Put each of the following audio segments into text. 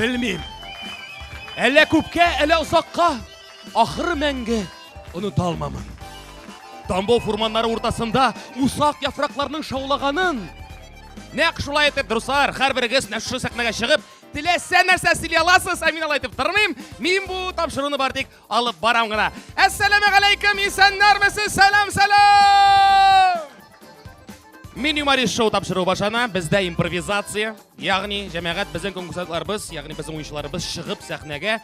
Белмим. Әллә күпкә, әллә озакка, ахыры мәңге оныта алмамын. Тамбов фурманнары уртасында усак яфракларның шаулаганын. Нәк шулай итеп, дуслар, һәрберегез нәшү сәхнәгә чыгып, теләсә нәрсә сөйли аласыз, ә мин алай итеп тормыйм. Мин бу тапшыруны бар тик Алып барам гына. Әссәләмә галәйкем, исәннәрмесез, сәлам, сәлам! Мин юморист шоу тапшыру башана, бездә импровизация, ягъни җәмәгать безнең конкурсантларыбыз, ягъни безнең уенчыларыбыз чыгып сәхнәгә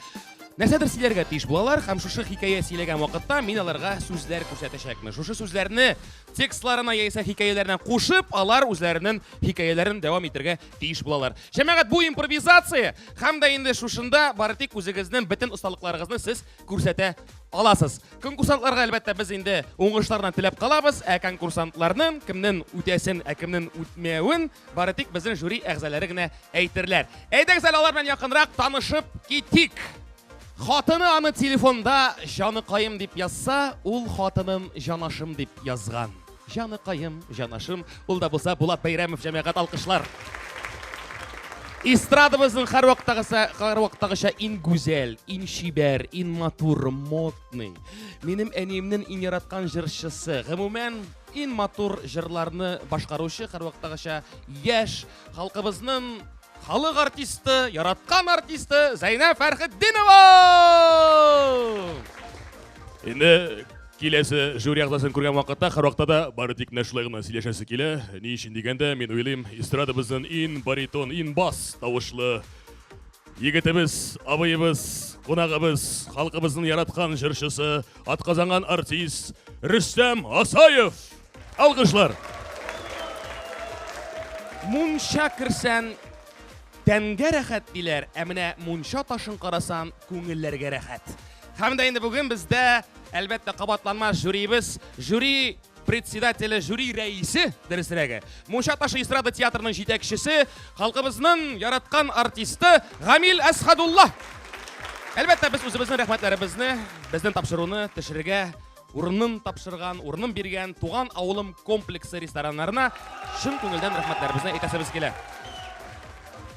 нәрсәдер сөйләргә тиеш булалар һәм шушы хикәя сөйләгән вакытта мин аларга сүзләр күрсәтәчәкмен. Шушы сүзләрне текстларына яисә хикәяләренә кушып, алар үзләренең хикәяләрен дәвам итергә тиеш булалар. Җәмәгать, бу импровизация һәм дә инде шушында бары тик үзегезнең бөтен осталыкларыгызны сез күрсәтә аласыз. Конкурсантларга әлбәттә без инде уңышларны теләп калабыз, ә конкурсантларның кемнең үтәсен, ә кемнең үтмәвен бары тик безнең жюри әгъзалары гына әйтерләр. Әйдәгез әле алар белән якынрак танышып китик. Хатыны аны телефонда җаныкаем дип язса, ул хатынын җанашым дип язган. Җаныкаем, җанашым, ул да булса Булат Бәйрәмов җәмәгать алкышлар. Эстрадабызның һәрвакыттагысы, һәрвакыттагыча иң гүзәл, иң чибәр, иң матур, модный. Минем әниемнең иң яраткан җырчысы. Гомумән, иң матур җырларны башкаручы һәрвакыттагыча яшь, Халкыбызның халык артисты, яраткан артисты Зәйнә Фәрхетдинова! Инде киләсе жюри әгъзасын күргән вакытта һәрвакытта да бары тик менә шулай гына сөйләшәсе килә. Ни өчен дигәндә, мин уйлыйм, эстрадабызның ин баритон, ин бас тавышлы егетебез, абыебыз, кунагыбыз, халкыбызның яраткан җырчысы, атказанган артист Рөстәм Асаев! Алгышлар! Мунча керсән, тәнгә рәхәт диләр, ә менә мунча ташын карасан, күңелләргә рәхәт. Һәм дә инде бүген бездә, әлбәттә, кабатланмас жюриебез, жюри председателе, жюри рәисе, дөресрәге, Мунча ташы эстрада театрының җитәкчесе, халкыбызның яраткан артисты Гамил Әсхадулла. Әлбәттә, без үзебезнең рәхмәтләребезне, безнең тапшыруны төшерергә урынын тапшырган, урынын биргән Туган авылым комплексы рестораннарына чын күңелдән рәхмәтләребезне әйтәсебез килә.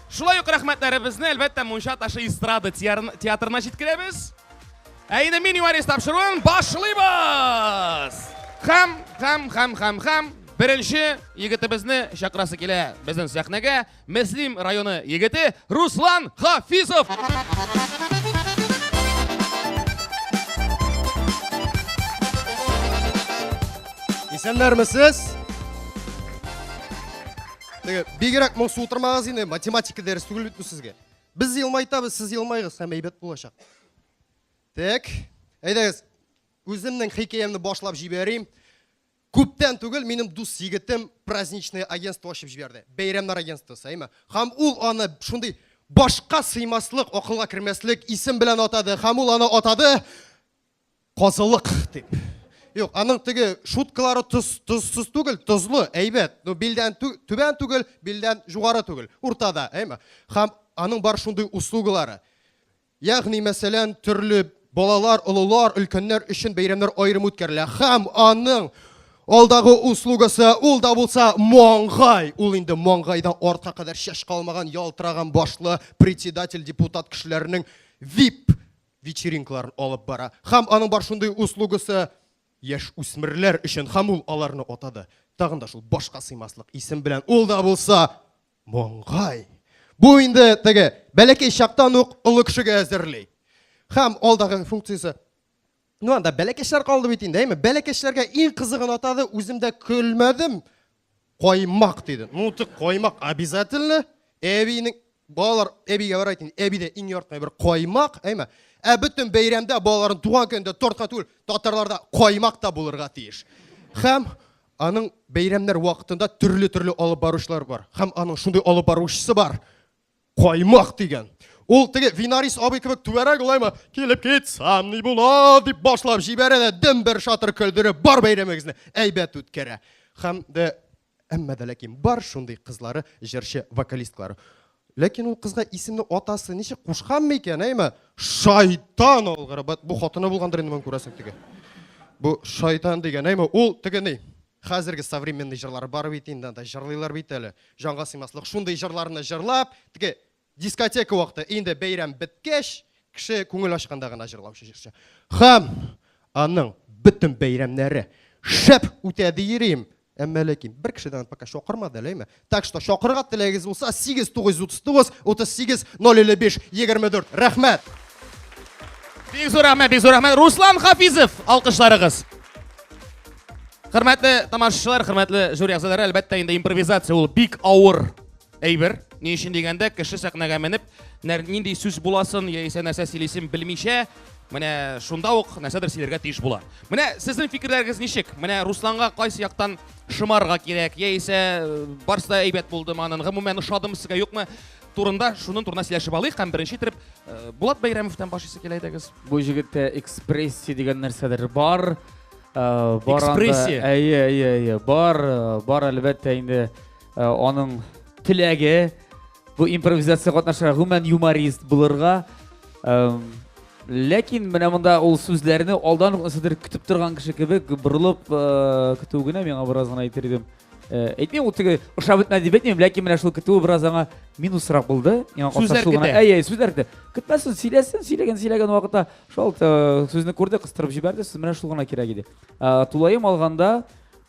Шулай ук рәхмәтләребезне, әлбәттә, Мунча ташы эстрада театрына җиткерәбез. Ә инде мини варис тапшыруын башлыйбыз! Хәм, хәм, хәм, хәм, хәм, беренче егетебезне чакрасы килә безнең сәхнәгә. Мөслим районы егете Руслан Хафизов. Исәннәрмесез? Теге бигрәк моңсу утырмагыз инде, математика дәрес түгел бит бу сезгә. Без елмайтабыз, сез елмайгыз, һәм әйбәт булачак. Так. Әйдәгез, үземнең хикәямне башлап җибәрим. Күптән түгел минем дус егетем праздничное агентство ачып җибәрде. Бәйрәмнәр агентствосы, әйме. Һәм ул аны шундый башка сыймаслык, акылга кермәслек исем белән атады, һәм ул аны атады Казылык дип. Юк, аның теге шуткалары тоз, тозсыз түгел, тозлы, әйбәт. Ну, билдән тү, түбән түгел, билдән югары түгел, уртада, әйме. Һәм аның бар шундый услугалары. Ягъни, мәсәлән, төрле балалар, олылар, өлкәннәр өчен бәйрәмнәр аерым үткәрелә. Һәм аның алдагы услугасы ул да булса маңгай. Ул инде маңгайдан артка кадәр чәч калмаган, ялтыраган башлы председатель депутат кешеләренең вип вечеринкаларын алып бара. Һәм аның бар шундый услугасы яшь үсмерләр өчен, һәм ул аларны атады. Тагын да шул башка сыймаслык исем белән. Ул да булса Моңгай. Бу инде теге бәләкәй чактан ук олы кешегә әзерли. Хәм алдагы функциясе. Ну анда бәләкәчләр калды бит инде, әйме? Бәләкәчләргә иң кызыгын атады, үзем дә көлмәдем. Каймак диде. Ну ты каймак обязательно. Әбинең балалар әбигә бар әйтин, әби дә иң ярткан бер каймак, әйме? Ә бөтен бәйрәмдә балаларын туган көндә тортка түгел, татарларда каймак та булырга тиеш. Хәм Аның бәйрәмнәр вакытында төрле-төрле алып баручылар бар. Һәм аның шундый алып баручысы бар. Каймак дигән. Ул теге Винарис абый кебек түгәрәк улаймы? Килеп китсәм ни була дип башлап җибәрә дә дем бер шатыр көлдереп бар бәйрәмегезне әйбәт үткәрә. Һәм дә әмма дә ләкин бар шундый кызлары, җырчы, вокалистлары. Ләкин ул кызга исемне атасы ничек кушкан микән, әйме? Шайтан алгыры. Бу хатыны булгандыр инде моның күрәсең теге. Бу шайтан дигән, әйме? Ул теге ни? Хәзерге современный җырлар бар бит инде, анда җырлыйлар бит әле. Җанга сыймаслык шундый җырларны җырлап, теге дискотека вакыты, инде бәйрәм беткәч, кеше күңел ачканда гына җырлаучы җырчы. Хам! Аның бөтен бәйрәмнәре шәп үтә диерим, Әмма ләкин бер кешедән пока чакырмады әле, әйме? Так что чакырырга теләгегез булса 8939 38 055 24. Рәхмәт. Бик зур рәхмәт, бик зур рәхмәт. Руслан Хафизов, алкышларыгыз. Хөрмәтле тамашачылар, хөрмәтле жюри әгъзалары, әлбәттә инде импровизация ул бик авыр Әйбер, ни өчен дигәндә, кеше сәхнәгә менеп, нинди сүз буласын яисә нәрсә сөйлисен белмичә, менә шунда ук нәрсәдер сөйләргә тиеш була. Менә сезнең фикерләрегез ничек? Менә Русланга кайсы яктан шымарга кирәк, яисә э, барсы да әйбәт булды манын, гомумән ошадымы сезгә, юкмы? Турында шуның турында сөйләшеп алыйк һәм беренче итеп э, Булат Бәйрәмовтан башлыйсы килә идегез. Бу җегеттә экспрессия дигән нәрсәдер бар. Э, бар Экспрессия. Әйе, әйе, әйе. Бар, бар әлбәттә инде. Э, аның теләге бу импровизация катнашырга гомумән юморист булырга ләкин менә монда ул сүзләрне алдан ук нәрсәдер көтеп торган кеше кебек борылып э, көтү генә миңа бераз гына әйтер идем э, әйтмим ул теге ошап бетмәде дип әйтмим ләкин менә шул көтүе бераз аңа минусрак булды миңа сүзләр көтә әй әй сүзләр көтә көтмәсен сөйләсен сөйләгән сөйләгән вакытта шул сүзне күрде кыстырып җибәрде сүз менә шул гына кирәк иде тулаем алганда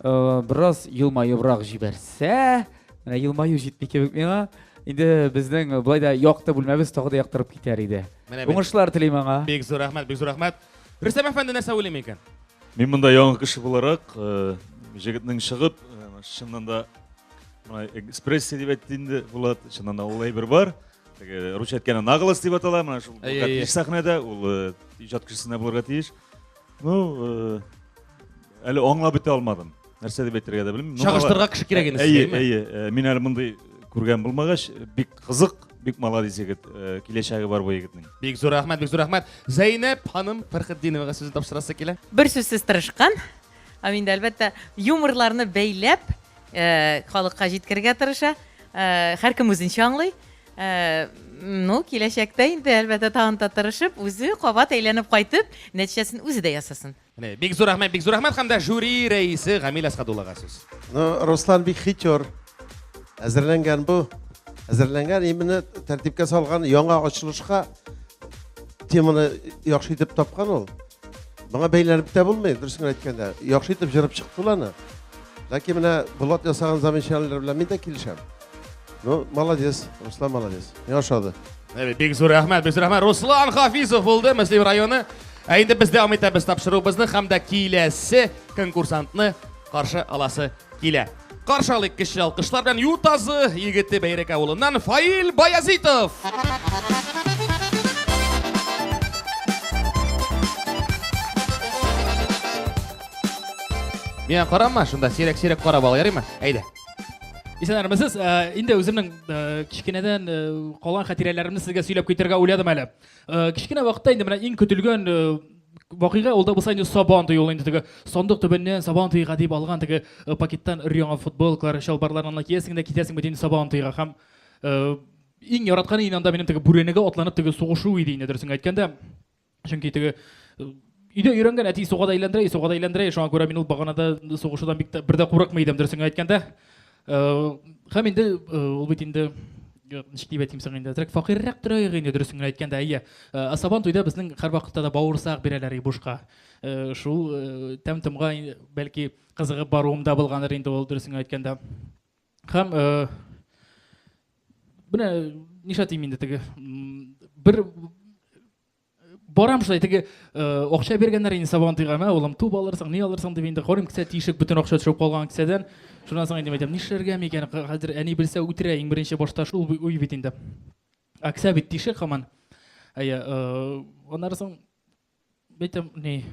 Бераз елмаебрак җибәрсә, менә елмаю җитми кебек миңа. Инде безнең болай да якты бүлмәбез тагы да яктырып китәр иде. Уңышлар телим аңа. Бик зур рәхмәт, бик зур рәхмәт. Рөстәм әфәнде нәрсә уйлый микән? Мин монда яңа кеше буларак, э, җегетнең чыгып, э, чыннан да мына экспрессия дип әйтте инде Булат, чыннан да ул әйбер бар. Теге русча әйткәндә наглость дип атала, менә шул Булат сәхнәдә, ул э, иҗат кешесенә булырга тиеш. Ну, әле аңлап бетә алмадым. Нәрсә дип әйтергә дә белмим. Чагыштырга кеше кирәк инде Әйе, әйе. Мин әле мондый күргән булмагач, бик кызык, бик молодец егет. Киләчәге бар бу егетнең. Бик зур рәхмәт, бик зур рәхмәт. Зәйнәп ханым Фәрхетдиновага сүзен тапшырасы килә. Бер сүзсез тырышкан. Һәм инде әлбәттә юморларны бәйләп, халыкка җиткерергә тырыша. Һәркем үзенчә аңлый. Ну, киләчәктә инде, әлбәттә, тагын да тырышып, үзе кабат әйләнеп кайтып, нәтиҗәсен үзе дә ясасын. Менә, бик зур рәхмәт, бик зур рәхмәт һәм дә жюри рәисе Гамил Әсхадуллага сүз. Ну, Руслан бик хитер. Әзерләнгән бу. Әзерләнгән, именно тәртипкә салган яңа ачылышка теманы яхшы итеп тапкан ул. Моңа бәйләнеп тә булмый, дөресен әйткәндә. Яхшы итеп җырып чыкты ул аны. Ләкин менә Булат ясаган замечаниеләр белән мин дә килешәм. Ну, молодец, Руслан молодец. Миңа ошады. Әбе, бик зур рәхмәт, бик зур рәхмәт. Руслан Хафизов булды, Мөслим районы. Ә инде без дәвам итәбез тапшыруыбызны һәм дә киләсе конкурсантны каршы аласы килә. Каршы алыйк көчле алкышлар белән Ютазы егете Бәйрәк авылыннан Фаил Баязитов. Миңа карама, шунда сирәк-сирәк карап ал, ярыймы? Әйдә. Исәнәрмесез. Э, инде үземнең э, кечкенәдән э, калган хатирәләремне сезгә сөйләп китәргә уйладым әле. Кечкенә вакытта инде менә иң көтелгән Вакыйга ул да булса инде сабан туе ул инде теге сандык төбеннән сабан туега дип алган теге э, пакеттан өр-яңа футболкалар, чалбарлар аны киясең дә китәсең бит инде сабан туега һәм э, иң яраткан иде анда минем теге бүрәнәгә атланып теге сугышу иде инде дөресен әйткәндә. Чөнки теге э, Өйдә өйрәнгән әти суга да әйләндерә, суга да әйләндерә, шуңа күрә мин ул баганада сугышудан бик тә бер дә курыкмый идем, дөресен әйткәндә. Һәм инде ул бит инде ничек дип әйтим соң инде трек факиррәк торыйк инде дөресен генә әйткәндә әйе асабан туйда безнең һәрвакытта да бавырсак бирәләр и бушка шул тәм томга бәлки кызыгып баруым да булгандыр инде ул дөресен генә әйткәндә һәм менә нишләтим инде теге бер барам шулай теге акча биргәннәр инде сабантуйга мә улым туп алырсың ни алырсың дип инде карыйм кесә тишек бөтен акча төшеп калган кесәдән шуннан соң инде әйтәм нишләргә микән хәзер әни белсә үтерә иң беренче башта шул уй бит инде ә кесә бит тишек һаман әйе аннары соң әйтәм ни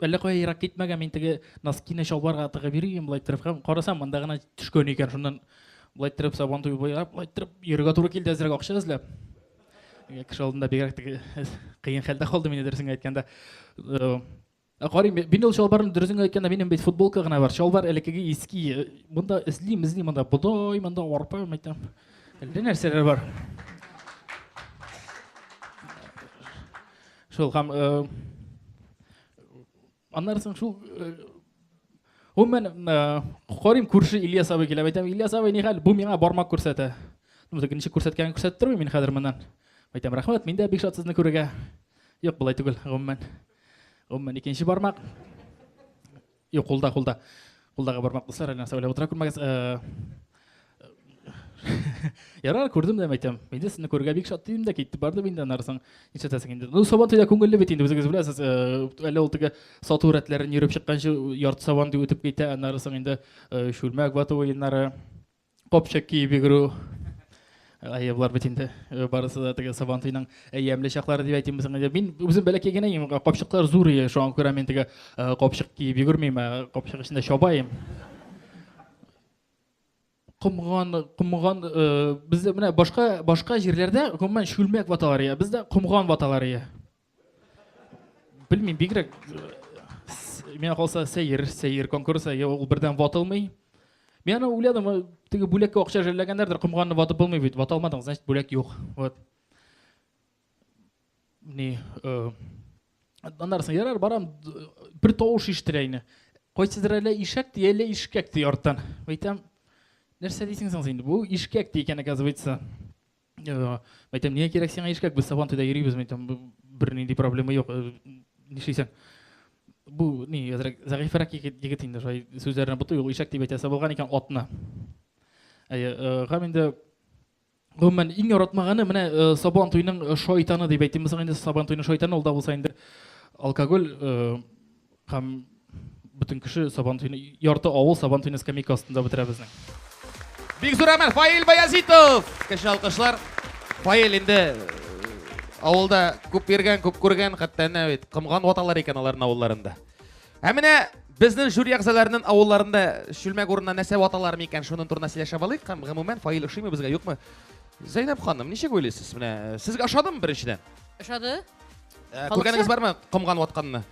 Әллә кая ерак китмәгән, мин теге носкины чалбарга тыгып йөрим, болай иттереп һәм карасам, монда гына төшкән икән. Шуннан болай иттереп сабан туеп буйлап, болай иттереп йөрергә туры килде әзрәк акча эзләп. Кеше алдында бигрәк теге кыен хәлдә калдым инде дөресен әйткәндә. Ә карыйм, мин ул чалбарны дөресен әйткәндә минем бит футболка гына бар. Чалбар элеккеге иски. Монда эзлим, эзлим, монда бодай, монда арпа, мәйтәм. Әллә нәрсәләр бар. Шул һәм аннары соң шул Гомумән, карыйм күрше Ильяс абый килә. Әйтәм, Ильяс абый, ни хәл? Бу миңа бармак күрсәтә. Ну, тегенче күрсәткәнен күрсәтеп тормыйм мин хәзер моннан. Әйтәм, рәхмәт, мин дә бик шат сезне күрергә. Юк, болай түгел, гомумән. Гомумән, икенче бармак. Юк, кулда, кулда. Кулдагы бармак дуслар әле нәрсә уйлап утыра күрмәгез. Э, Ярар, күрдем дә әйтәм. Инде сезне күрергә бик шат дидем дә китте барды инде аннарсың. Нишләтәсең инде? Ну, сабан төйдә күңелле бит инде үзегез беләсез. Э, әле ул теге сату рәтләрен йөреп чыкканчы ярты сабан дип үтеп китә, аннарсың инде э, шүлмәк вату уеннары. Копчак киеп йөгерү. Әйе, болар бит инде э, барысы да теге сабан туйның әйәмле чаклары дип әйтимбез инде. Мин үзем бәләкәй генә идем, капчыклар зур иде, шуңа күрә мин теге э, капчык киеп йөгермим, ә капчык эчендә чабаем. Комган, комган, э, бездә менә башка башка җирләрдә гомумән шүлмәк ваталар ия, бездә комган ваталар ия. Белмим, бигрәк миңа калса сәер, сәер конкурс, әйе, ул бердән ватылмый. Мин аны уйладым, теге бүләккә акча жәлләгәннәрдер, комганны ватып булмый бит, вата алмадың, значит, бүләк юк. Вот. Ни, э, аннарсын ярар, барам, бер тавыш ишетелә инде. Кайсыдыр әле ишәк ди, әле ишкәк ди арттан. Әйтәм, нәрсә дисең соң инде? Бу ишкәк ди икән, оказывается. Әйтәм, нигә кирәк сиңа ишкәк, без Сабантуйда йөрибез, әйтәм, бернинди проблема юк. Нишлисең? Бу ни, әзрәк зәгыйфәрәк егет инде, шулай сүзләренә бутый, ул ишәк дип әйтә, сабылган икән атны. Әйе, гам инде Гомумән, иң яратмаганы менә Сабан туйның шайтаны дип әйтимме соң инде, Сабан туйның шайтаны ул да булса инде алкоголь Һәм бөтен кеше Сабантуйны, ярты авыл Сабантуйны скамейка астында бетерә безнең. Бик зур рәхмәт, Фаил Баязитов! Кеше алкышлар. Фаил инде э, авылда күп йөргән, күп күргән, хәтта әнә бит комган ваталар икән аларның авылларында. Ә менә Безнең жюри әгъзаларының авылларында чүлмәк урынына нәрсә ваталар микән? Шуның турында сөйләшеп алыйк. Һәм гомумән фаил ошыймы безгә, юкмы? Зәйнәб ханым, ничек уйлыйсыз? Менә э, сезгә ошадымы беренчедән? Ошады? Ә, Күргәнегез бармы комган ватканны?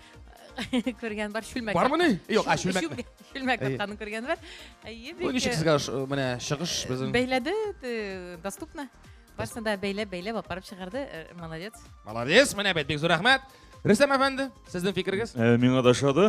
Күргән бар чүлмәк. Бармы ни? Юк, а чүлмәк. Чүлмәк ватканны күргән бар. Әйе, бик. Ничек сезгә менә чыгыш безнең? Бәйләде, доступно. Барсын да бәйләп, бәйләп апарып чыгарды. Э, молодец. Молодец, менә бит, бик зур рәхмәт. Рөстәм әфәнде, сезнең фикергез? Э, миңа да ошады.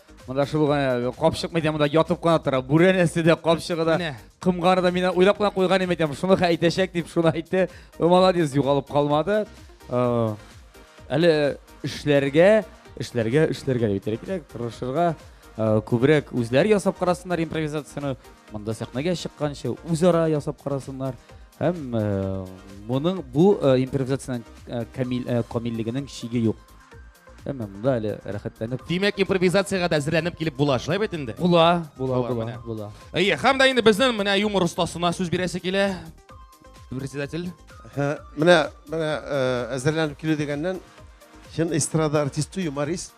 Монда шул гына капчык мәйтәм монда ятып кына тора. Бүрәнәсе дә, капчыгы да, Менә. кымганы да мин уйлап кына куйган идем әйтәм. Шуны хә әйтәчәк дип шуны әйтте. Ы, Молодец, югалып калмады. Ы, Әле эшләргә, эшләргә, эшләргә дип әйтергә кирәк, тырышырга, ы, күбрәк үзләр ясап карасыннар импровизацияне. Монда сәхнәгә чыкканчы үзара ясап карасыннар. Һәм ы, моның бу ы, импровизациянең ы, камил, ы, камиллегенең чиге юк. Әмма монда әле рәхәтләнеп. Димәк, импровизациягә дә әзерләнеп килеп була, шулай бит инде? Була, була, була, була. Әйе, һәм дә инде безнең менә юмор остасына сүз бирәсе килә. Председатель. Менә, менә э, әзерләнеп килү дигәннән, чын эстрада артисты, юморист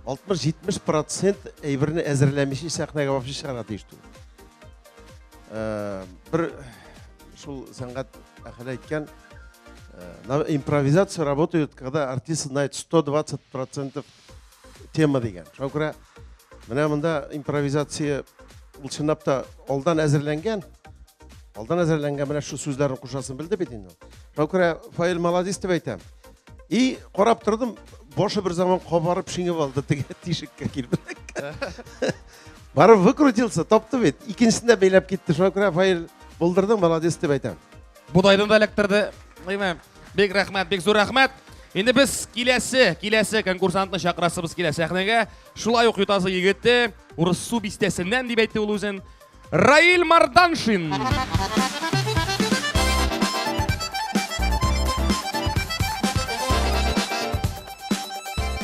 60-70% әйберне әзерләмичә сәхнәгә вообще чыгара тиеш түгел. Э, бер шул сәнгать әхәле әйткән э, импровизация работает когда артист знает 120 процентов тема дигән шуңа күрә менә монда импровизация ул чынлап та алдан әзерләнгән алдан әзерләнгән менә шул сүзләрне кушасын белде бит инде шуңа күрә фаил молодец дип әйтәм и карап тордым башы бер заман кабарып шиңеп алды теге тишеккә килеп Барып выкрутился, тапты бит. Икенчесен дә бәйләп китте. Шуңа күрә файл булдырдың, молодец дип әйтәм. Будайдан да эләктерде. Әйме, бик рәхмәт, бик зур рәхмәт. Инде без киләсе, киләсе конкурсантны чакырасыбыз килә сәхнәгә. Шулай ук ютазы егете, Урыссу бистәсеннән дип әйтте ул үзен. Раил Марданшин.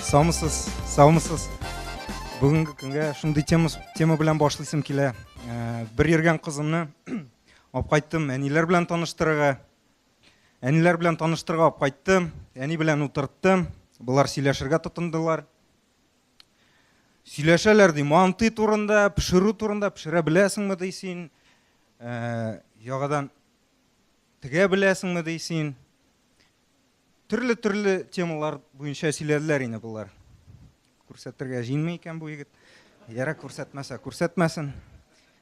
Саумысыз, саумысыз. Бүгенге көнгә шундый тема, тема белән башлыйсым килә. Э, бер йөргән кызымны алып кайттым, әниләр белән таныштырырга. Әниләр белән таныштырырга алып кайттым, әни белән утырттым. Болар сөйләшергә тотындылар. Сөйләшәләр ди, манты турында, пешерү турында, пешерә беләсеңме ди син? Э, ягадан тегә беләсеңме ди син? төрле-төрле темалар буенча сөйләделәр инде болар. Күрсәтергә җыенмый икән бу егет. Яра күрсәтмәсә, күрсәтмәсен.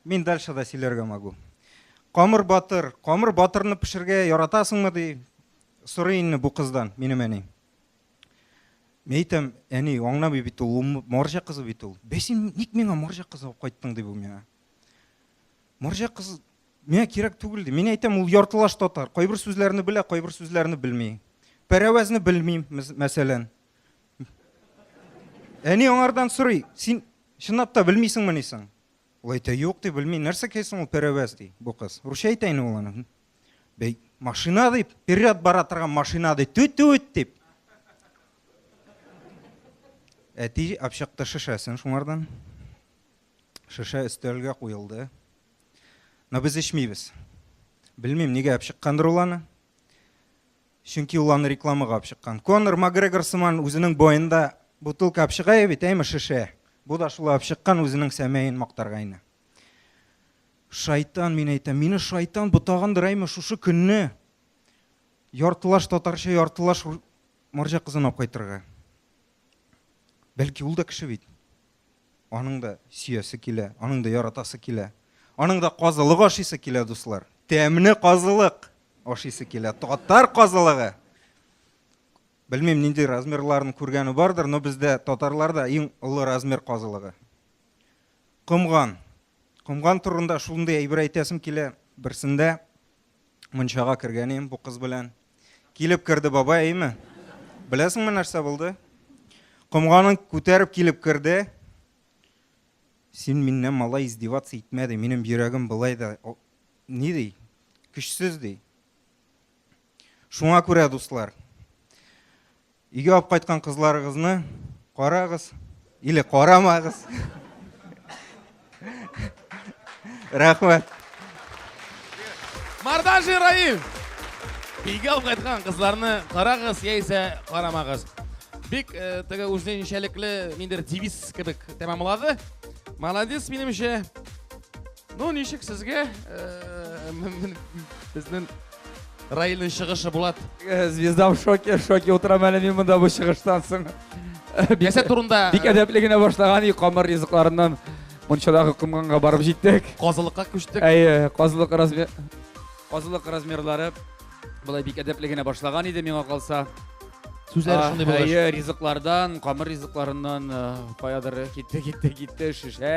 Мин дальше да сөйләргә могу. Камыр батыр, камыр батырны пешергә яратасыңмы ди? Сорый инде бу кыздан минем әни. Мин әйтәм, әни, аңламый бит ул, марҗа кызы бит ул. Бәсин, ник миңа марҗа кызы алып кайттың ди бу миңа. Марҗа кыз Миңа кирәк түгел ди. Мин әйтәм, ул яртылаш татар. Кайбер сүзләрне белә, кайбер сүзләрне белми. Пәрәвәзне белмим, мәсәлән. Әни аңардан сорый, син чынлап та белмисеңме нисең? Ул әйтә, юк ди, белми. Нәрсә кайсың ул пәрәвәз ди, бу кыз. Русча әйтә инде ул аны. Бәй, машина дип, перед бара торган машина ди, түт-түт дип. Әти апчыкты шешәсен шуңардан. Шешә өстәлгә куелды. Но без эчмибез. Белмим, нигә алып чыккандыр ул аны. Чөнки ул аны рекламага алып чыккан. Конор Макгрегор сыман үзенең боенда бутылка алып чыга бит, әйме шешә. Бу да шулай алып чыккан үзенең сәмәен мактарга ине. Шайтан, мин әйтәм, мине шайтан ботагандыр әйме шушы көнне. Яртылаш татарча, яртылаш марҗа кызын алып кайтырга. Бәлки ул да кеше бит. Аның да сөясе килә, аның да яратасы килә. Аның да казылык ашыйсы килә, дуслар. Тәмле казылык ашыйсы килә. Татар казылыгы. Белмим, нинди размерларын күргәне бардыр, но бездә татарларда иң олы размер казылыгы. Комган. Комган турында шундый әйбер әйтәсем килә. Берсендә Мунчага кергәнем бу кыз белән. Килеп керде бабай, әйме? Беләсеңме нәрсә булды? Комганын күтәреп килеп керде. Син миннән малай издеваться итмә ди, минем йөрәгем былай да ни ди? Көчсез ди. Шуңа күрә, дуслар, Өйгә алып кайткан кызларыгызны карагыз или карамагыз. Рәхмәт. Мардажи Раил. Өйгә алып кайткан кызларны карагыз яисә карамагыз. Бик э, теге үзенчәлекле ниндер девиз кебек тәмамлады. Молодец минемчә. Ну, ничек сезгә? Э, Безнең Раилнең чыгышы Булат. Э, звезда в шоке, в шоке утырам әле мин монда бу чыгыштан соң. Бәсә турында. Бик э, әдәпле генә башлаган и камыр ризыкларыннан мунчадагы комганга барып җиттек. Казылыкка күчтек. Әйе, казылык размер казылык размерлары былай бик әдәпле генә башлаган иде миңа калса. Сүзләре шундый булгач. Әйе, ризыклардан, камыр ризыкларыннан каядыр китте, китте, китте, шешә,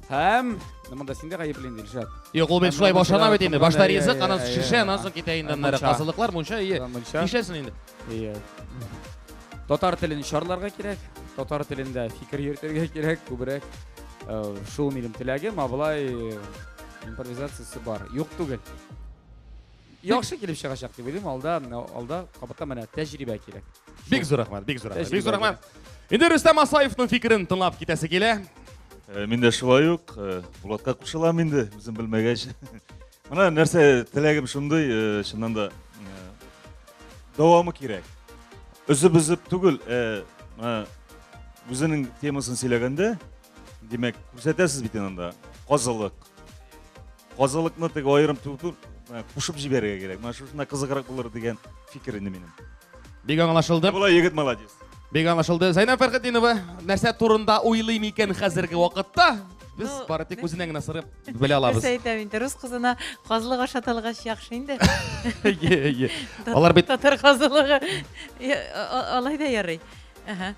Һәм монда син дә гаепле инде, Илшат. Юк, ул бит шулай башлана бит инде. Башта ризык, аннан соң шешә, аннан соң китә инде аннары. Казылыклар, мунча, ие. Нишләсен инде? Ие. Татар телен чарларга кирәк, татар телендә фикер йөртергә кирәк, күбрәк э, шул минем теләгем, ә болай э, импровизациясе бар. Юк түгел. яхшы килеп чыгачак дип уйлыйм алда алда кабатта менә тәҗрибә кирәк бик зур рәхмәт бик зур рәхмәт бик зур рәхмәт инде рөстәм асаевның фикерен тыңлап китәсе килә э, мин дә шулай ук э, булатка кушылам инде үзем белмәгәч менә нәрсә теләгем шундый э, чыннан да дәвамы кирәк өзеп өзеп түгел үзенең темасын сөйләгәндә Димәк, күрсәтәсез бит анда казылык. Казылыкны теге аерым түгел, кушып җибәрергә кирәк. Менә шушына кызыграк булыр дигән фикер инде минем. Бик аңлашылды. Була егет молодец. Бик аңлашылды. Зайнаб Фәрхетдинова нәрсә турында уйлый микән хәзерге вакытта? Без ну, бары тик үзеннән генә сырып белә алабыз. Нәрсә әйтәм инде, рус кызына казлык ашатылгач яхшы инде. Алар бит татар казлыгы алай да ярый. Ага.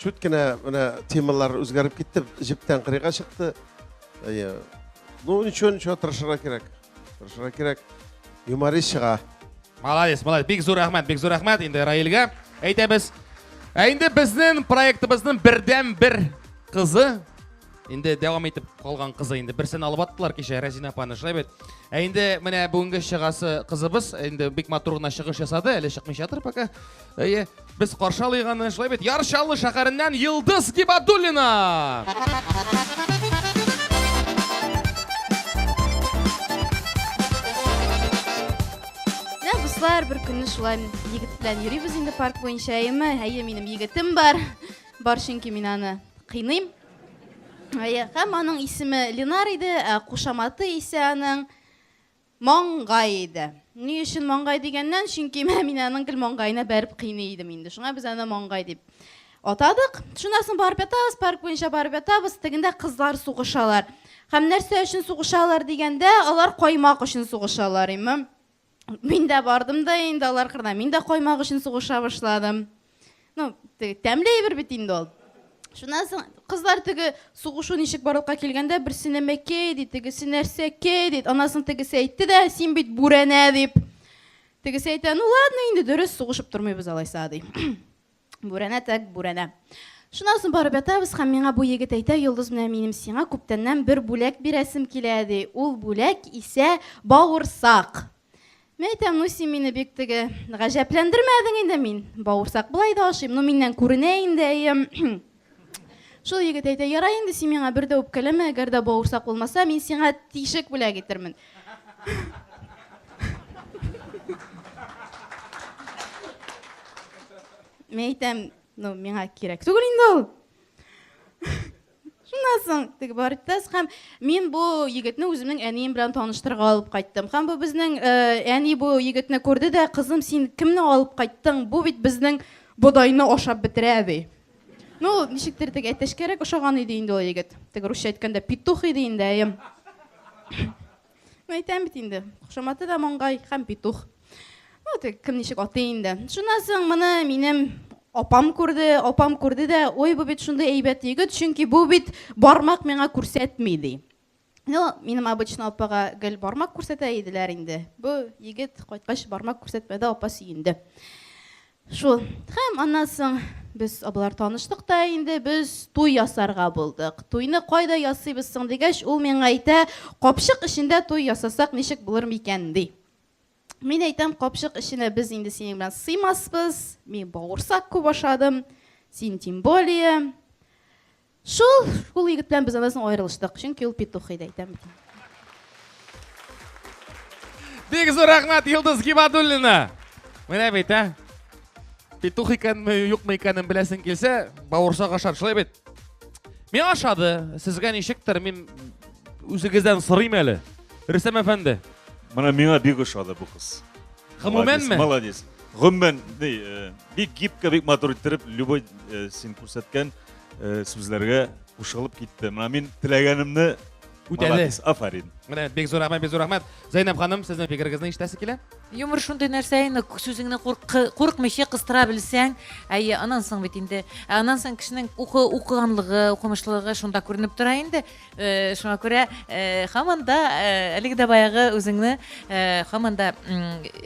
Чүт кенә менә темалар үзгәреп китте, җептән кырыйга чыкты. Әйе. Ну, ничего, ничего, тырышырга кирәк. Тырышырга кирәк. Юморист чыга. Молодец, молодец. Бик зур рәхмәт, бик зур рәхмәт инде Раилгә. Әйтәбез. Ә инде безнең проектыбызның бердән бер кызы инде дәвам итеп калган кызы инде берсен алып аттылар кичә Рәзинә апаны шулай бит. Ә инде менә бүгенге чыгасы кызыбыз инде бик матур гына чыгыш ясады, әле чыкмыйча тор пока. Әйе. Без каршы алыйк аны. Шулай бит, Яр Чаллы шәһәреннән Йылдыз Гибадуллина. Менә дуслар, бер көнне шулай егет белән йөрибез инде парк буенча, әйеме? Әйе, минем егетем бар. Бар чөнки мин аны кыйныйм. Әйе, һәм аның исеме Ленар иде, ә кушаматы исә аның Маңгай иде. Ни өчен маңгай дигәннән, чөнки менә мин аның гел маңгаена бәреп кыйный идем инде. Шуңа без аны маңгай дип атадык. Шуннан соң барып ятабыз, парк буенча барып ятабыз. Тегендә кызлар сугышалар. Һәм нәрсә өчен сугышалар дигәндә, алар каймак өчен сугышалар, имем. Мин дә бардым да инде алар кырына. Мин дә каймак өчен сугыша башладым. ну теге тәмле әйбер бит инде ул шуннан соң кызлар теге сугышу ничек барлыкка килгәндә берсе нәмәкәй ди тегесе нәрсәкәй ди аннан соң тегесе әйтте дә син бит бүрәнә дип тегесе әйтә ну ладно инде дөрес сугышып тормыйбыз алайса ди бүрәнә так бүрәнә шуннан соң барып ятабыз һәм миңа бу егет әйтә йолдыз менә минем сиңа күптәннән бер бүләк бирәсем килә ди ул бүләк исә бавырсак Мин әйтәм, ну син мине бик теге гаҗәпләндермәдең инде мин. Бавырсак былай да ашыйм, ну миннән күренә инде әйем. Шул егет әйтә, ярай инде син миңа бер дә үпкәләмә, әгәр дә бавырсак булмаса, мин сиңа тишек бүләк итермен. Мин әйтәм, ну миңа кирәк түгел инде ул. Шуннан соң теге Баритас һәм мин бу егетне үземнең әнием белән таныштырырга алып кайттым. Һәм бу безнең э, әни бу егетне күрде дә, кызым, син кемне алып кайттың? Бу бит безнең бодайны ашап бетерә, ди. Ну, ничектер теге әтәчкәрәк ошаган иде инде ул егет. Теге русча әйткәндә петух иде инде, әем. Мин әйтәм бит инде, кушаматы да маңгай һәм петух. Ну, тек кем ничек атый инде. Шуннан соң моны минем апам күрде, апам күрде дә, ой, бу бит шундый әйбәт егет, чөнки бу бит бармак миңа күрсәтми, ди. Ну, минем обычно апага гел бармак күрсәтә иделәр инде. Бу егет кайткач бармак күрсәтмәде, апа сөенде. Шул. Һәм аннан соң без абыйлар таныштык та инде, без туй ясарга булдык. Туйны кайда ясыйбыз соң дигәч, ул миңа әйтә, капчык эчендә туй ясасак ничек булыр микән, ди. Мин әйтәм, капчык эченә без инде синең белән сыймаспыз, мин бавырсак күп ашадым, син тем более. Шул, шул егет белән без аннан соң аерылыштык, чөнки ул петух иде, әйтәм бит. Бик зур рәхмәт, Йолдыз Гибадуллина! Менә бит, ә? Петух икәнме, юкмы икәнен беләсең килсә, бавырсак ашар, шулай бит? Миңа ошады, сезгә ничектер, мин үзегездән сорыйм әле. Рөстәм әфәнде. Менә миңа бик ошады бу кыз. Гомумәнме? Молодец. Гомумән, бик гибкә, бик матур иттереп, любой син күрсәткән э, сүзләргә кушылып китте. Менә мин теләгәнемне Үтәде. Молодец, афарин. Менә бик зур рәхмәт, бик зур рәхмәт. Зәйнәб ханым, сезнең фикерегезне ишетәсе килә? Юмор шундый нәрсә инде, сүзеңне куркы- куркмыйча кыстыра белсәң, әйе, анан соң бит инде, ә анан соң кешенең укы, укыганлыгы, укымышлылыгы шунда күренеп тора инде. Шуңа күрә һаман да әлеге дә баягы үзеңне һаман да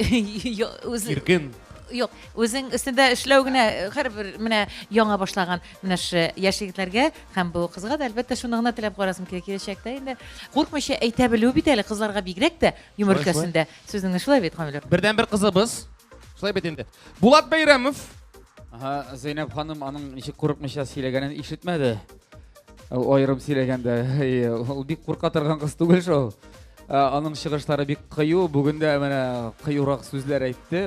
иркен Юк, үзең өстендә эшләү генә һәрбер менә яңа башлаган менә ше яшь егетләргә һәм бу кызга да әлбәттә шуны гына теләп карасым килә киләчәктә инде куркмыйча әйтә белү бит әле кызларга бигрәк тә юмор өлкәсендә сүзеңне шулай бит камилер бердән бер кызыбыз шулай бит инде булат бәйрәмов Ага, Зәйнәб ханым аның ничек курыкмыйча сөйләгәнен ишетмәде. Аерым сөйләгәндә, ул бик курка торган кыз түгел шул. Аның чыгышлары бик кыю, бүген дә менә кыюрак сүзләр әйтте.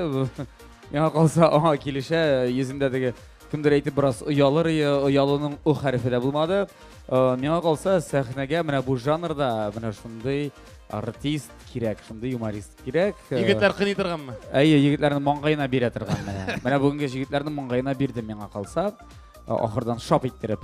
Миңа калса, аңа килешә, йөзендә теге кемдер әйтеп бераз оялыр, оялының у хәрефе дә булмады. Миңа калса, сәхнәгә менә бу жанрда менә шундый артист кирәк, шундый юморист кирәк. Э, егетләр кыйный торганмы? Әйе, егетләрнең маңгаена бирә торган менә. Менә бүгенге егетләрнең маңгаена бирде миңа калса, э, ахырдан шап иттереп.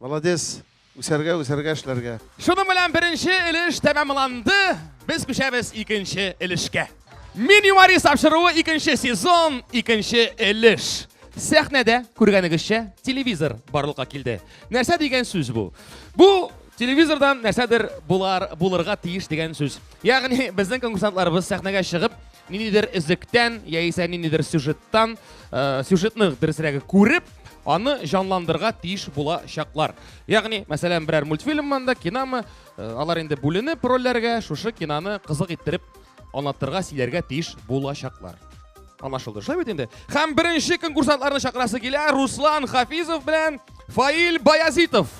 Молодец! Үсәргә, үсәргә, эшләргә! Шуның белән беренче өлеш тәмамланды, без күчәбез икенче өлешкә. Мин юморист тапшыруы икенче сезон, икенче өлеш. Сәхнәдә, күргәнегезчә, телевизор барлыкка килде. Нәрсә дигән сүз бу? Бу телевизордан нәрсәдер булар, булырга тиеш дигән сүз. Ягъни, безнең конкурсантларыбыз сәхнәгә чыгып, ниндидер өзектән яисә ниндидер сюжеттан, э, сюжетны дөресрәге күреп, аны җанландырга тиеш була чаклар. Ягъни, мәсәлән, берәр мультфильммы да, кинамы, э, алар инде бүленеп рольләргә, шушы кинаны кызык иттереп аңлатырга, сөйләргә тиеш була чаклар. Анашылды, шулай бит инде. Һәм беренче конкурсантларны чакырасы килә Руслан Хафизов белән Фаил Баязитов.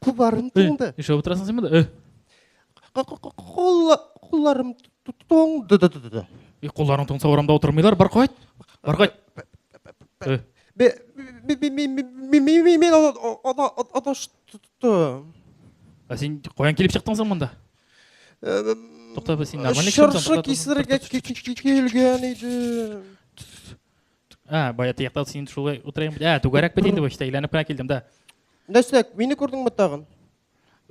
Кулларым туңды. Ишәп утырасың син монда? Кулларым туңды. И кулларың туңса урамда утырмыйлар, бар кайт. Бар кайт. Мин адаштым. Ә син каян килеп чыктың соң монда? Тукта, син нормально килгән идем. А, бая тияктал син шулай утырайым. А, түгәрәк бит инде бу, işte әйләнеп кенә килдем дә. Нәрсә, мине күрдеңме тагын?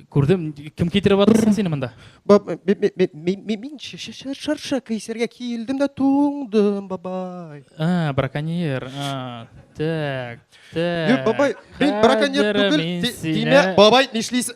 Күрдем, кем китереп атырсын сине монда? Баб, мин шарша кисәргә килдем дә туңдым, бабай. А, браконьер. А, так, так. Бабай, мин браконьер түгел. Димә, бабай, нишлисең?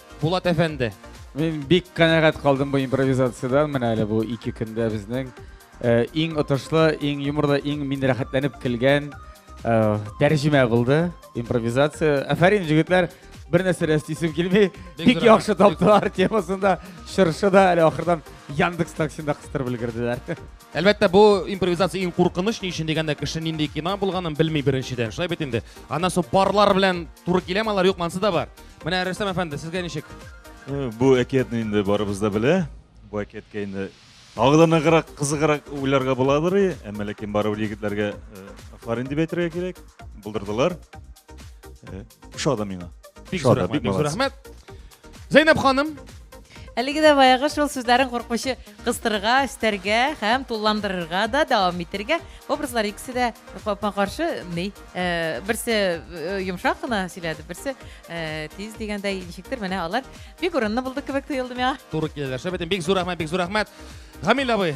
Булат әфәнде. Мин бик канәгать калдым бу импровизациядән. Менә әле бу ике көндә безнең э, иң отышлы, иң юморлы, иң мин рәхәтләнеп килгән э, тәрҗемә булды. Импровизация. Афәрин, җегетләр, бер нәрсә дә эстисем килми. Бик яхшы таптылар темасында. Чыршы да әле ахырдан Яндекс таксинда кыстырып өлгерделәр. Әлбәттә, бу импровизация иң куркыныч ни өчен дигәндә, кеше нинди кино булганын белми беренчедән. Шулай бит инде. Ана су парлар белән туры киләме алар, юкмы, ансы да бар. Менә Рөстәм әфәнде, сезгә ничек? Э, бу әкиятне инде барыбыз да белә. Бу әкияткә инде тагы да ныграк, кызыграк уйларга буладыр, әмма ләкин барыбер егетләргә э, афарин дип әйтергә кирәк. Булдырдылар. Э, Шада миңа. Бик зур рәхмәт, бик зур рәхмәт. Зәйнәп ханым. Әлеге дә баягы шул сүзләрен куркмыйча кыстырырга, өстәргә һәм тулландырырга да дәвам итәргә. Образлар икесе дә капма-каршы ни? Э, берсе э, йомшак кына сөйләде берсе э, тиз дигәндәй ничектер менә алар бик урынлы булды кебек тоелды миңа туры киләләр шәбәтем бик зур рәхмәт бик зур рәхмәт гамил абый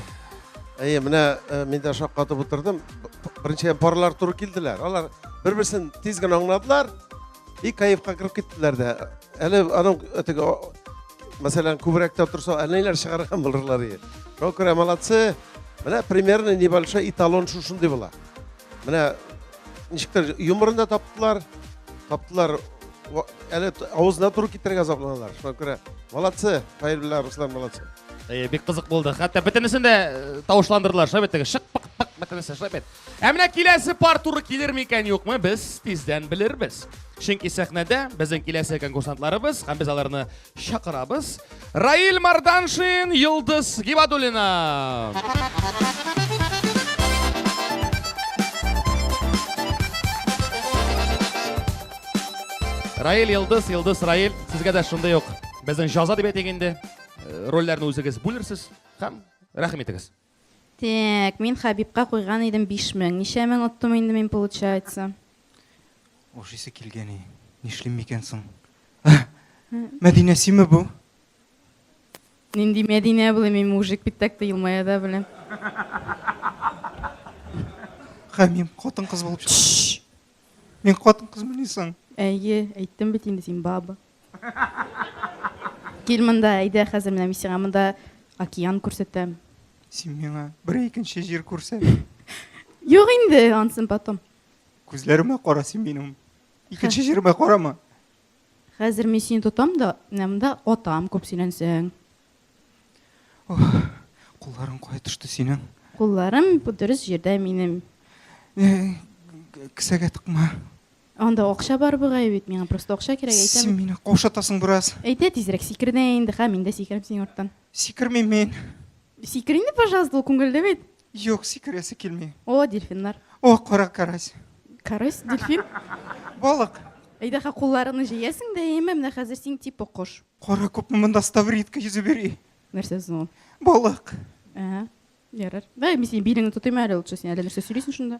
әйе менә мин дә шаккатып утырдым беренчедән парлар туры килделәр алар бер берсен тиз генә аңладылар и кайфка кереп киттеләр дә әле аның теге мәсәлән күбрәктә торса әле ниләр чыгарган булырлар шуңа күрә молодцы менә примерно небольшой эталон шушындый була Менә ничектер юморын да таптылар, таптылар әле авызына туры китерергә запланалар. Шуңа күрә молодцы, Фаил белән Руслан молодцы. Әйе, бик кызык булды. Хәтта бөтенесен дә э, тавышландырдылар, шулай бит теге шык пык пык бөтенесе шулай бит. Ә менә киләсе пар туры килер микән юкмы, без тиздән белербез. Чөнки сәхнәдә безнең киләсе конкурсантларыбыз һәм без аларны Чакырабыз. Раил Марданшин, Йылдыз Гибадуллина. Раил Йылдыз, Йылдыз Раил, сезгә дә шундый ук безнең җаза дип әйтик инде. Э, рольләрне үзегез бүлерсез һәм рәхим итегез. Тәк, мин Хәбибка куйган идем биш мең. Ничә мең оттым инде мин получается? Ашыйсы килгәни, нишлим микән соң? Мәдинә симе бу? Нинди Мәдинә булы, мин мужик бит так та елмая да беләм. Хәмим, хатын-кыз булып чык. Мин хатын-кызмыни соң? Әйе, әйттем бит инде, син баба. Кил монда, әйдә, хәзер менә мин сиңа монда океан күрсәтәм. Син миңа бер икенче җир күрсәт. Юк инде, ансын потом. Күзләремә кара син минем. Икенче җирмә карама. Хәзер мин сине тотам да, менә монда атам күп сөйләнсәң. Кулларың кая төште синең? Кулларым бу дөрес җирдә минем. Э, Кесәгә тыкма. Анда акча бар бугай бит, миңа просто акча кирәк, әйтәм. Син мине каушатасың бераз. Әйтә тизрәк сикерде инде, ха, мин дә сикерәм синең арттан. Сикермим мин. Сикер инде, пожалуйста, ул күңелле бит. Юк, сикерәсе килми. О, дельфиннар. О, кара карась. Карась, дельфин. Балык. Әйдә, ха, кулларыңны җәясең дә, әйеме, менә хәзер син типа кош. Кара күпме монда ставридка йөзеп йөри. Нәрсә соң ул? Балык. Ә, ярар. Давай, мин синең билеңне тотыйм әле лучше, син әле нәрсә сөйлисең шунда?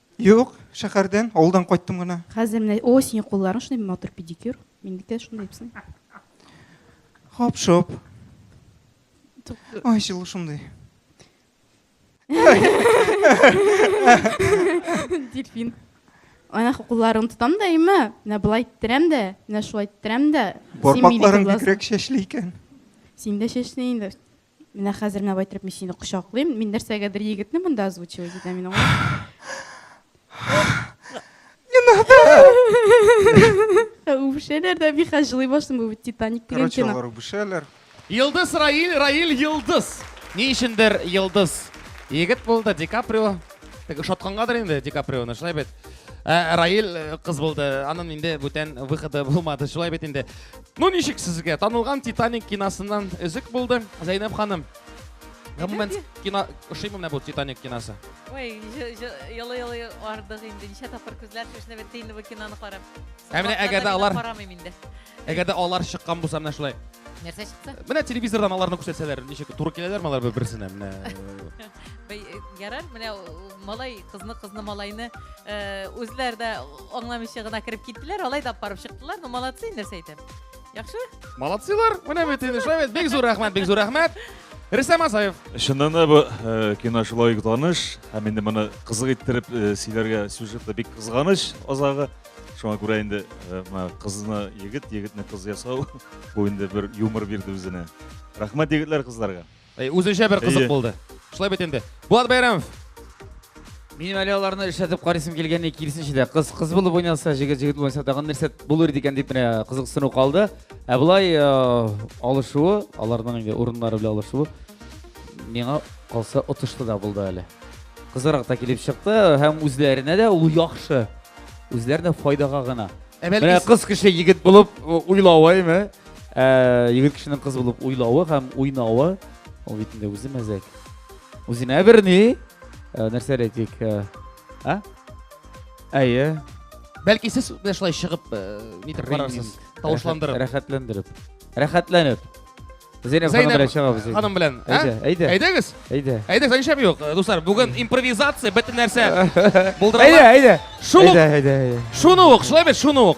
Юк, шәһәрдән, авылдан кайттым гына. Хәзер менә, о, синең кулларың шундый матур педикюр. Минеке дә шундый ипсен. Хоп-шоп. Ой, җылы шундый. Дельфин. Ана кулларын тотам да имә, менә болай иттерәм дә, менә шулай иттерәм дә. Бармакларың бигрәк чәчле икән. Син дә чәчле инде. Менә хәзер менә байтырып мин сине кочаклыйм. Мин нәрсәгәдер егетне монда озвучивать итәм мин аңлыйм. Не надо. Үбешәләр дә мин хәзер җылый башлыйм бу Титаник дигән кино. Короче, алар үбешәләр. Йылдыз Раиль, Раиль Йылдыз. Ни өчендер Йылдыз егет булды, Ди Каприо. Тик ошаткангадыр инде Ди Каприоны, шулай бит. Ә, Раиль э, кыз булды. Анын инде бүтән выходы булмады, шулай бит инде. Ну ничек сезгә? Танылган Титаник киносыннан өзек булды. Зәйнәп ханым. Гомумән кино ошыймы менә бу Титаник киносы? Ой, елы-елы ардык инде. Ничә тапкыр күзләр шешне бетте инде бу киноны карап. Ә менә әгәр дә алар карамыйм инде. Әгәр дә алар чыккан булса менә шулай. Нәрсә чыкты? Менә телевизордан аларны күрсәтсәләр, ничек туры киләләрме алар бер-берсенә? Менә Бәй, э, Ярар, менә э, малай, кызны, кызны, малайны э, үзләр дә аңламыйча гына кереп киттеләр, алай да барып чыктылар. Ну, молодцы, нәрсә әйтәм. Яхшы? Молодцилар, менә бит инде шулай бит. Бик зур рәхмәт, бик зур рәхмәт. Рөстәм Асаев. Чыннан да бу э, кино шулай ук таныш, һәм инде моны кызык иттереп э, сөйләргә сюжет та бик кызганыч азагы. Шуңа күрә инде э, менә кызны егет, егетне кыз ясау бу инде бер юмор бирде үзенә. Рәхмәт егетләр кызларга. Әй, үзенчә бер кызык булды. Шулай бит инде. Булат Бәйрәмов. Минем әле аларны эшләтеп карыйсым килгәнне киресенчә дә кыз кыз булып уйнаса, җегет җегет булса тагын нәрсә булыр икән дип менә кызыксыну калды. Ә болай э, алышуы, аларның инде урыннары белән алышуы миңа калса отышлы да булды әле. Кызырак та килеп чыкты һәм үзләренә дә ул яхшы. Үзләренә файдага гына. Ә бәлки кыз кеше егет булып уйлавы, әйме? Ә егет кешенең кыз булып уйлавы һәм уйнавы, ул бит инде үзе мәзәк. Үзенә берни, ә, нәрсә әйтик, ә, ә? Әйе. Бәлки сез менә шулай чыгып, э, нитеп карарсыз, Тренинг. тавышландырып. Рәхәт- Рәхәтләндереп. Рәхәтләнеп. Зәйнәб ханым Зәйнәб белән чыгабыз. инде. ханым белән, ә? Әйдә, әйдә. Әйдәгез. Әйдә. Әйдә, саншам юк. Э, Дуслар, бүген импровизация, бөтен нәрсә Әйдә, булдырыла. әйдә. Шул ук, Әйдә, әйдә, әйдә. шуны ук, шулай бит, шуны ук.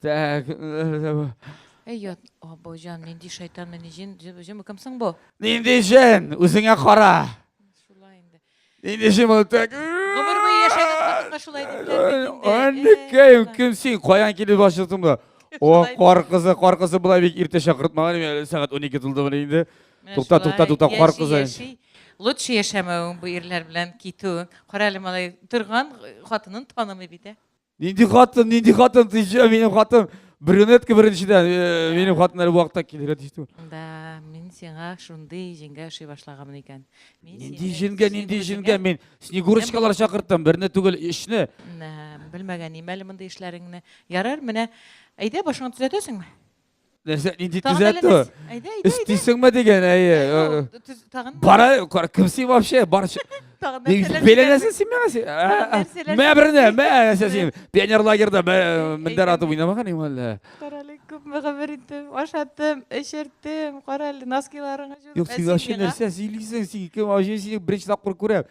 Так. Эй, ят, або җан, нинди шайтан, нинди җен, җен, җен, кем соң бу? Нинди җен, үзеңә кара. Шулай инде. Нинди җен ул так? Гомер буе яшәгән хатынга шулай дипләр бит инде. Анныкаем, Э, кем син? Каян килеп башладың бу? О, Шулай. кар кызы, кар кызы болай бик иртә чакыртмаган иде. Әле Сәгать 12 тулды менә инде. Менә Тукта, шулай, тукта, тукта, кар яши, кызы. яши. Лучше яшәмәвең бу ирләр белән китүең. Кара әле малай торган хатынын танымый бит, ә? Нинди хатын, нинди хатын, тиҗә, минем хатын брюнетка беренчедән, э, минем хатын әле вакытта килергә тиеш түгел. Да, мин сиңа шундый җиңгә ошый башлаганмын икән. Мин Нинди сине- җенгә, син нинди үзеңә- җенгә, мин снегурочкалар чакырттым, берне түгел, өчне. Нә, Белмәгән имәле мондый эшләреңне. Ярар, менә әйдә башыңа төзәтәсеңме? нәрсә нинди төзәтү өстисеңме деген әйе бара кара кім син вообще бар беләнәсең син миңа мә берне мә нәрсә син пионер лагерьда мендәр атып уйнамаган иң әллә әле күпме гомер иттем ашаттым эчерттем кара әле носкиларыңа юк син вообще нәрсә сөйлисең син кем вообще сине беренче тапкыр күрәм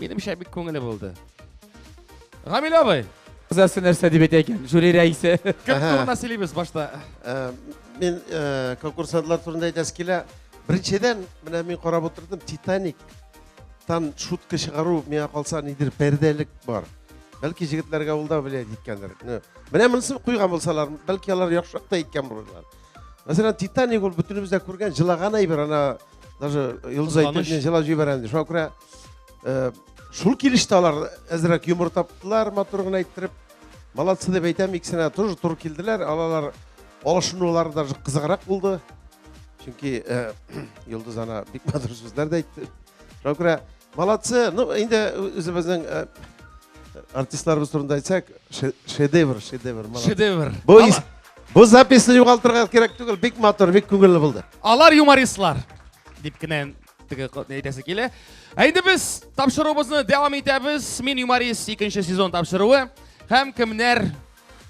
Минемчә бик күңелле булды. Гамил абый, Күзәсе нәрсә дип әйтә икән, жюри рәисе. кем Әһә. турында сөйлибез башта? Ә, Мин ә, конкурсантлар турында әйтәсе килә. Беренчедән, менә мин карап утырдым, Титаниктан шутка чыгару миңа калса нидер пәрдәлек бар. Бәлки җегетләргә ул да влиять иткәндер. Ну, Менә монысын куйган булсалар, бәлки алар яхшырак та иткән булырлар. Мәсәлән, Титаник ул бөтенебез дә күргән, җылаган әйбер, ана даже Йолдыз Кызганыч. әйтеп, мин җылап җибәрәм ди. Шуңа күрә Э, шул килеште алар әзрәк юмор таптылар матур гына әйттереп молодцы деп әйтәм икесенә тоже туры килделәр алалар алышынулары даже кызыграк булды чөнки э, йолдыз ана бик матур сүзләр дә әйтте шуңа күрә молодцы ну инде үзебезнең э, артистларыбыз турында әйтсәк шедевр шедевр шедевр бу бу записьны югалтырга кирәк түгел бик матур бик күңелле булды алар юмористлар дип кенә әйтәсе килә. Ә инде без тапшыруыбызны дәвам итәбез. Мин юморист икенче сезон тапшыруы. Һәм кемнәр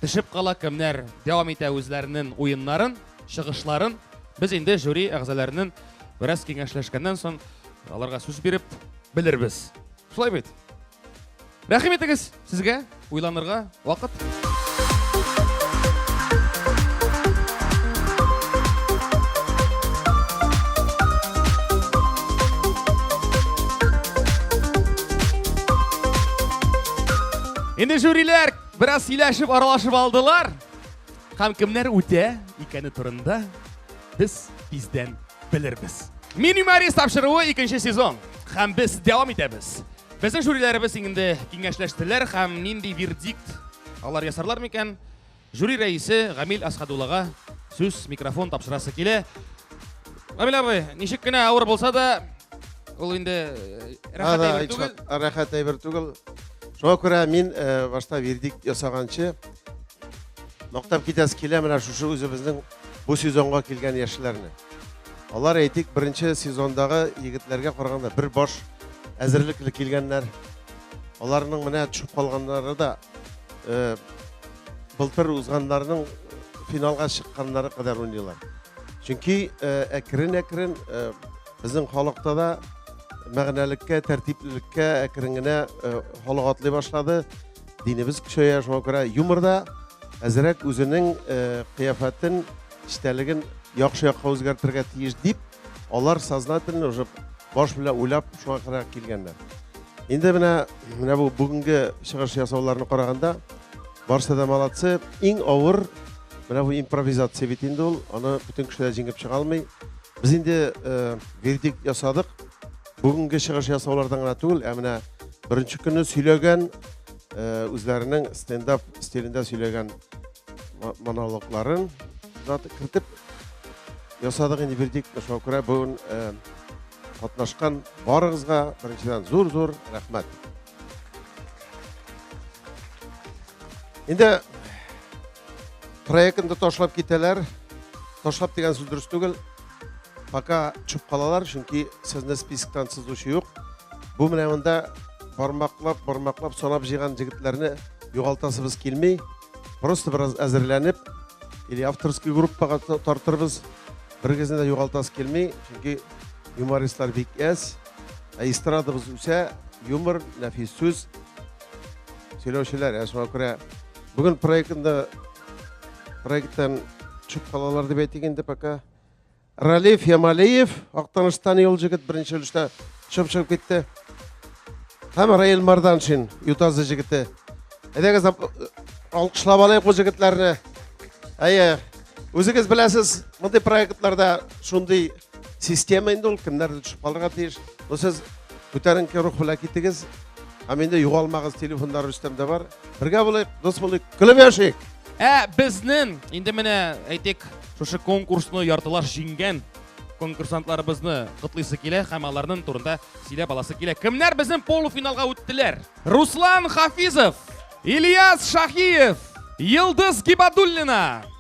төшеп кала, кемнәр дәвам итә үзләренең уеннарын, чыгышларын. Без инде жюри әгъзаларының бераз киңәшләшкәннән соң аларга сүз биреп белербез. Шулай бит? Рәхим итегез сезгә, уйланырга вакыт. Инде жюриләр бераз сөйләшеп, аралашып алдылар. Һәм кемнәр үтә икәне турында без тиздән белербез. Минимарис тапшыруы икенче сезон. Һәм без дәвам итәбез. Безнең жюриләребез инде киңәшләштеләр һәм нинди вердикт алар ясарлар микән? Жюри рәисе Гамил Асхадуллага сүз, микрофон тапшырасы килә. Гамил абый, ничек кенә авыр булса да, ул инде э, рәхәт Ада, әйбер түгел. ичмат, Рәхәт әйбер түгел. Шуңа күрә мин э, башта вердикт ясаганчы мактап китәсе килә менә шушы үзебезнең бу сезонга килгән яшьләрне. Алар, әйтик, беренче сезондагы егетләргә караганда бер баш әзерлекле килгәннәр. Аларның менә төшеп калганнары да э, былтыр узганнарның финалга чыкканнары кадәр уйныйлар. Чөнки әкрен-әкрен э, э, безнең халыкта да мәгънәлеккә, тәртиплелеккә әкрен генә халык атлый башлады. динебез көчәя, шуңа күрә юморда әзерәк үзенең э, кыяфәтен, эчтәлеген яхшы якка үзгәртергә тиеш дип, алар сознательно уже баш белән уйлап шуңа кадәр килгәннәр. Инде менә менә бу бүгенге чыгыш ясауларны караганда барысы да молодцы. Иң авыр менә бу импровизация бит инде ул, аны бөтен кеше дә җиңеп чыга алмый. Без инде э, вердикт ясадык. Бүгенге чыгыш ясаулардан гына түгел, ә менә беренче көнне сөйләгән үзләренең стендап стилендә сөйләгән монологларын кертеп ясадык инде бирдик. Шуңа күрә бүген катнашкан барыгызга беренчедән зур-зур рәхмәт. Инде проектны ташлап китәләр. Ташлап дигән сүз дөрес түгел. Пока чуп калалар, чөнки сезне списоктан сызучы юк. Бу менә монда бармаклап, бармаклап санап җыйган җегетләрне югалтасыбыз килми. Просто бераз әзерләнеп, или авторский группага тартырбыз. Берегезне дә югалтасы килми, чөнки юмористлар бик әз. Ә эстрадабыз үсә, юмор, нәфис сүз. Сөйләүчеләр, ә шуңа күрә бүген проектында Проекттан төшеп калалар дип әйтик инде пока. Ралиф Ямалиев, Актаныштан юл җегет беренче өлештә чып чып китте. Һәм Раил Марданшин, Ютазы җегете. Әйдәгез алкышлап алайык бу җегетләрне. Әйе, үзегез беләсез, мондый проектларда шундый Система инде ул кемнәрдер төшеп калырга тиеш. Ну сез күтәренке рух белән китегез. Һәм инде югалмагыз, телефоннар Рөстәмдә бар. Бергә булыйк, дус булыйк, көлеп яшик. Ә безнең инде менә әйтик, шушы конкурсны яртылаш җиңгән конкурсантларыбызны котлыйсы килә һәм аларның турында сөйләп аласы килә. Кемнәр безнең полуфиналга үттеләр? Руслан Хафизов, Ильяс Шахиев, Йылдыз Гибадуллина,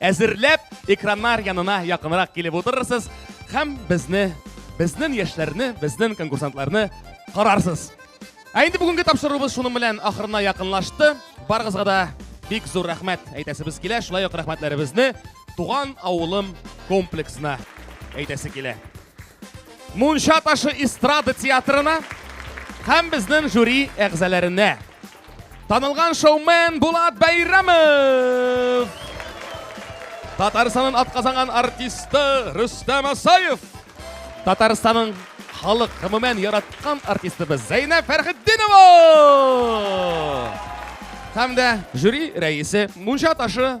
Әзерләп, экраннар янына якынрак килеп утырырсыз һәм безне, безнең яшьләрне, безнең конкурсантларны карарсыз. Ә инде бүгенге тапшыруыбыз шуның белән ахырына якынлашты. Барыгызга да бик зур рәхмәт әйтәсебез килә. Шулай ук рәхмәтләребезне туган авылым комплексына әйтәсе килә. Мунча ташы эстрада театрына һәм безнең жюри әгъзаларына. Танылган шоумен Булат Бәйрәмов! Татарстанның атказанган артисты Рөстәм Асаев! Татарстанның халык гомумән яраткан артистыбыз Зәйнәб Фәрхетдинова! Һәм дә жюри рәисе Мунча ташы